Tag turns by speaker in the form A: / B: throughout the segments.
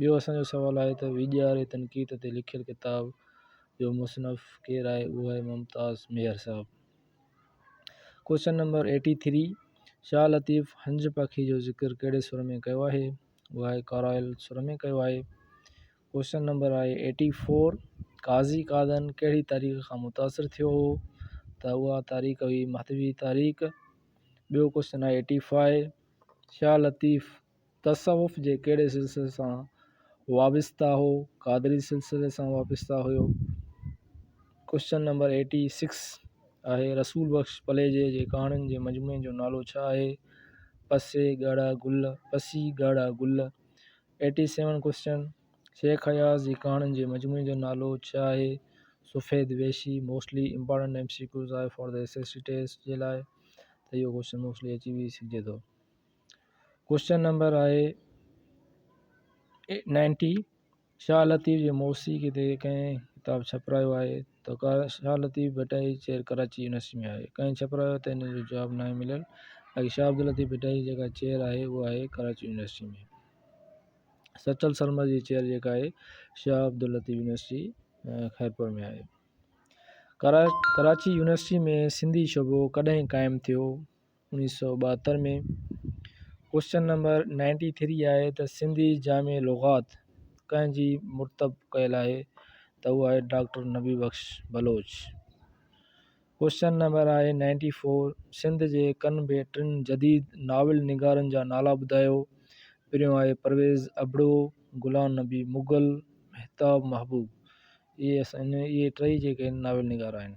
A: ٻيو اسان جو سوال آهي ته ويڄاري تنقيد تي لکيل ڪتاب جو مصنف ڪير آهي اهو آهي ممتاز ميهر صاحب. Question number eighty three Shah Latif هنج پکي جو ذڪر ڪهڙي سر ۾ ڪيو آهي اهو آهي ڪارائل سر ۾ ڪيو آهي. ڪوشچن نمبر آهي ايٽي فور قاضي قادن ڪهڙي تاريخ کان متاثر ٿيو هو ته اها تاريخ هئي مهدوي تاريخ ٻيو ڪوشچن آهي ايٽي فائي شاهه لطيف تصوف جي ڪهڙي سلسلي سان وابسته هو؟ قادري سلسلي سان وابسته هيو. ڪوشچن نمبر ايٽي سڪس آهي رسول بخش پليجي جي ڪهاڻين جي مجموعي جو نالو ڇا آهي؟ پسي ڳاڙها گل پسي ڳاڙها گل eighty seven question Shaikh Ayaz جي ڪهاڻين جي مجموعي جو نالو ڇا آهي؟ Safed Vehshi mostly important M C Qs آهي for the S S C test جي لاء ته اهو ڪوشچن موسٽلي اچي به سگهجي ٿو. ڪوشچن نمبر آهي نائنٽي شاهه لطيف جي موسيقي تي ڪنهن ڪتاب ڇپرايو آهي تو ڪا شاهه لطيف ڀٽائي چير ڪراچي يونيورسٽي ۾ آهي ڪنهن ڇپرايو ته ان جو جواب ناهي مليل باقي شاهه عبداللطيف ڀٽائي جي جيڪا چير آهي اها آهي ڪراچي يونيورسٽي ۾ سچل سرمد جي چير جيڪا آهي شاهه عبداللطيف يونيورسٽي خيرپور ۾ آهي ڪراچي يونيورسٽي ۾ سنڌي شعبو ڪڏهن قائم ٿيو انيس سؤ ٻاهتر ۾ ڪوشچن نمبر نائنٽي ٿري آهي ته سنڌي جامع لغات ڪنهن جي مرتب ڪيل آهي ته هو آهي doctor Nabi Bakhsh Baloch question number آهي نائنٽي فور سنڌ جي ڪن به ٽن جديد ناول نگارن جا نالا ٻڌايو پريون آهي پرويز ابڙو غلام نبي مغل مهتاب محبوب اهي اسان اهي ٽئي جيڪي ناول نگار آهن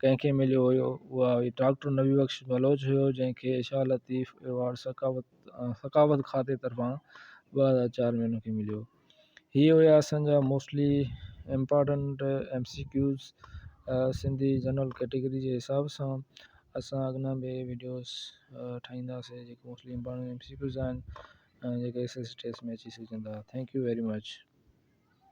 A: ڪنهن کي مليو هيو اها هئي ڊاڪٽر نبي بخش بلوچ هيو جنهن کي شاهه لطيف ايوارڊ ثقافت ثقافت کاتي طرفان ٻه هزار چار ۾ ان کي مليو هي هيا اسان جا mostly important M C Qs Sindhi general category جي حساب سان اسان اڳنا به ويڊيوز ٺاهينداسي جيڪي mostly important M C Qs آهن جيڪي ايس ايس ٽيسٽ ۾ اچي سگهجن ٿا ٿينڪ يو ويري مچ